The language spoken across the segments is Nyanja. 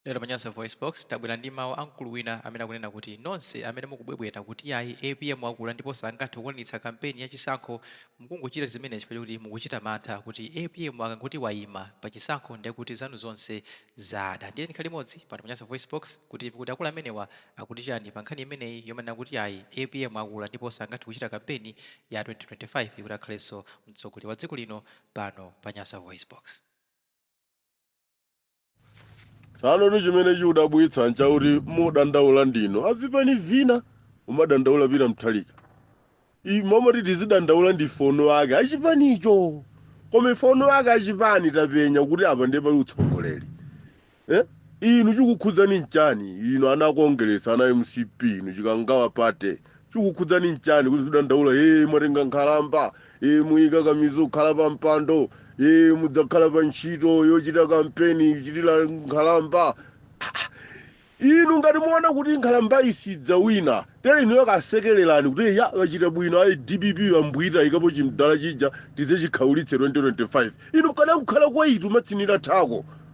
Lero pa Nyasa VoiceBox, tabwera ndi mawu a mkulu wina amene akunena kuti nonse amene mukubwebweta kuti yayi apm akula ndipo sangathe kukwaniritsa kampeni ya chisankho, mukungochita zimenezi chifukwa choti mukuchita mantha kuti apm akangoti waima pa chisankho ndiye kuti zanu zonse zada. Ndiye tikhale limodzi pano pa Nyasa VoiceBox kuti timve kuti akulu amenewa akuti chani pa nkhani imeneyi yomanena kuti yayi apm akula ndipo sangathe kuchita kampeni ya 2025 kuti akhalenso mtsogoleri wa dziko lino pano pa Nyasa VoiceBox. tsano tu chimene chikudabwitsa nchakuti mudandaula ndinu avipani vina umadandaula pita mthalika mmomo ti tizidandaula ndife eni ake achipanicho koma ife eni ake achipani tapenya kuti apa ndiye pali utsogoleri eh? inu chikukhudzani nchani inu ana kongeresi ana mcp inu chikangawa party chikukhudzani nchani kuti muzidandaula ee mwatenga nkhalamba ee muyika kumizo kukhala pa mpando ee mudzakhala pa ntchito yochita kampeni ichitira nkhalamba inu ngati muona kuti nkhalamba sidzawina tere inuyo kasekerereni kuti ya wachita bwino ayi dpp yambwita yaikapo chimdala chija tidzachikhaulitse 2025 inu mkadakukhala kwaitu matsinira thako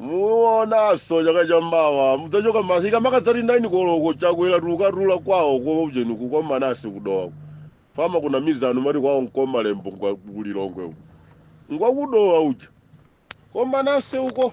muonaso chaka cha mawa mudzachoka masika makadzati 9 koloko chakwera tukatula kwawo kwa ujeni ku Nkomanasi ku Dowa fama kuna mizanu mati kwawo nku Malembo ngwa ku Lilongwe uko ngwa ku Dowa uja ku Nkomanasi uko